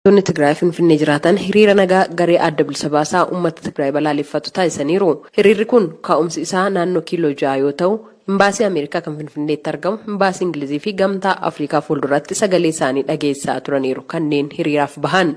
Jiraattonni Tigraay Finfinnee jiraatan hiriira nagaa garee Adda Bilisa Baasaa Uummata Tigraay balaaleffatu taasisaniiru. Hiriirri kun ka'umsi isaa naannoo Kiiloo Ja'a yoo ta'u, Imbaasii Ameerikaa kan Finfinneetti argamu, Imbaasii Ingilizii fi Gamtaa Afrikaa fuulduratti sagalee isaanii dhageessisaa turaniiru kanneen hiriiraaf bahan.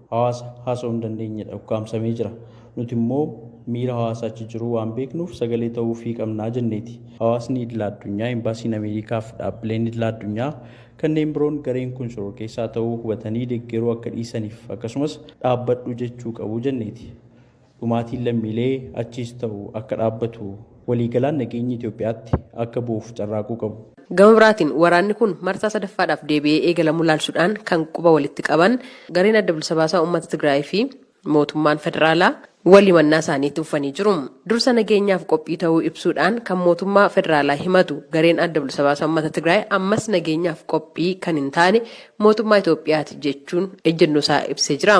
hawaasa haasa'uu hin dandeenyedha, ukkaamsamee jira. Nuti immoo miira hawaasa achi jiruu waan beeknuuf sagalee ta'uufii qabna jenneeti. Hawaasni idila addunyaa, Embaasiin Ameerikaa fi dhaabbileen idila addunyaa kanneen biroon gareen kun shororkeessaa ta'uu hubatanii deggeruu akka dhiisaniif akkasumas dhaabbadhu jechuu qabu jenneeti. Dhumaatiin lammiilee achiis ta'u akka dhaabbatu waliigalaan nageenyi Itoophiyaatti akka bu'uuf carraaquu qabu. Gama biraatiin waraanni kun marsaa sadaffaadhaaf deebi'ee eegalamuu ilaalchudhaan kan quba walitti qaban gareen Adda Bilisa Baasaa Uummata Tigraayii fi mootummaan federaalaa wal himannaa isaanii itti fufanii jiru. Dursa nageenyaaf qophii ta'uu ibsuudhaan kan mootummaa federaalaa himatu gareen Adda Bilisa Baasaa Uummata Tigraay ammas nageenyaaf qophii kan hin taane mootummaa Itoophiyaati jechuun ejjennoo isaa ibsee jira.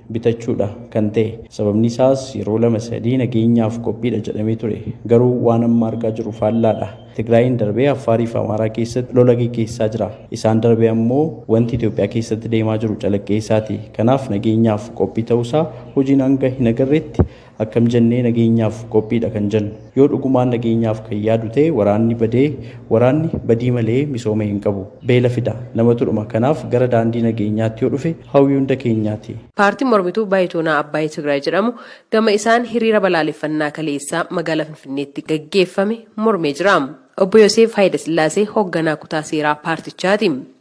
bitachuudha kan ta'e. Sababni isaas yeroo lama sadii nageenyaaf qophiidha jedhamee ture. Garuu waan amma argaa jirru faallaadha. Tigraayiin darbee Affaariif Amaaraa keessatti lola geggeessaa jira. Isaan darbee ammoo wanti Itoophiyaa keessatti deemaa jiru calaqqee isaati. Kanaaf nageenyaaf qophii ta'uusaa hojiin hanga hin agarretti Akkam jennee nageenyaaf qophiidha kan jennu? Yoo dhugumaan nageenyaaf kan yaadu ta'e waraanni badee waraanni badii malee misooma hin qabu. Beela fida. Namatu dhuma. Kanaaf gara daandii nageenyaatti yoo dhufe hawwii hunda keenyaati. Paartiin mormituu Baayitoonaa Abbaay Tigraay jedhamu gama isaan hiriira balaaleffannaa kaleessa magaalaa Finfinneetti gaggeeffame mormee jira. Obbo Yoseef Hayilasillaasee hogganaa kutaa seeraa paartichaati.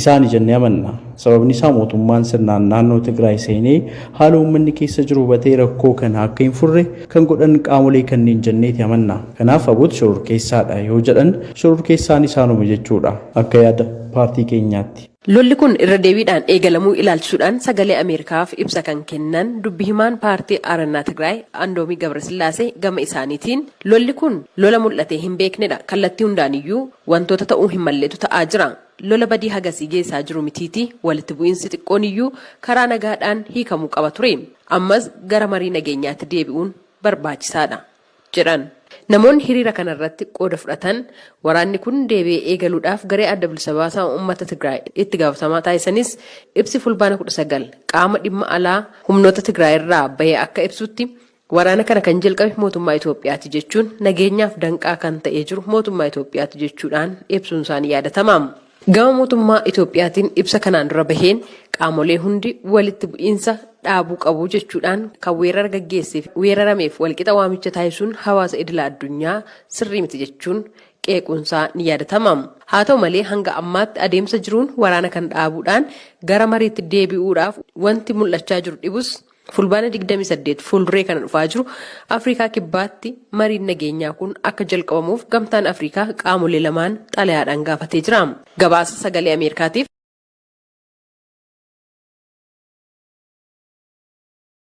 isaani jennee amanna. Sababni isaa mootummaan sirnaan naannoo Tigraay seenee haala uummanni keessa jiru hubatee rakkoo kana akka hin furre kan godhan qaamolee kanneen jenneeti amanna. Kanaaf abut shororkeessaadha yoo jedhan shororkeessaan isaanuma jechuudha akka yaada paartii keenyaatti. Lolli kun irra deebiidhaan eegalamuu ilaalchisuudhaan sagalee Ameerikaaf ibsa kan kennan dubbi himaan paartii Aarannaa Tigraay Andoomii Gabrasillaasee gama isaaniitiin lolli kun lola mul'atee hin beeknedha kallattii hundaaniyyuu wantoota ta'uu hin malletu ta'aa jira. Lola badii hagasii geessaa jiru mitiiti walitti bu'iinsi xiqqoon iyyuu karaa nagaadhaan hiikamuu qaba ture. Ammas gara marii nageenyaatti deebi'uun barbaachisaadha, jedhan. Namoonni hiriira kanarratti qooda fudhatan waraanni kun deebi'ee eegaluudhaaf garee Adda Bilisa Baasaa Ummata Tigraay itti gaafatamaa taasisanis ibsi Fulbaana kudha sagal qaama dhimma alaa humnoota Tigraayirraa bahe akka ibsutti, Waraana kana kan jalqabe mootummaa Itoophiyaati jechuun nageenyaaf danqaa kan ta'ee jiru mootummaa Itoophiyaati jechuudhaan ibsuun isaa ni yaadatama. Gama mootummaa Itoophiyaatiin ibsa kanaan dura baheen qaamolee hundi walitti bu'iinsa dhaabuu qabu jechuudhaan kan weerara gaggeesseef weerarameef walqixa waamicha taasisuun hawaasa idila addunyaa sirrii miti jechuun qeequunsaa ni yaadatama. Haa ta'u malee hanga ammaatti adeemsa jiruun waraana kana dhaabuudhaan gara mariitti deebi'uudhaaf wanti mul'achaa jiru dhibus Fulbaana 28 fuulduree kana dhufaa jiru Afrikaa Kibbaatti mariin nageenyaa kun akka jalqabamuuf Gamtaan Afrikaa qaamolee lamaan xalayaadhaan gaafatee jira. Gabaasa Sagalee Ameerikaatiif.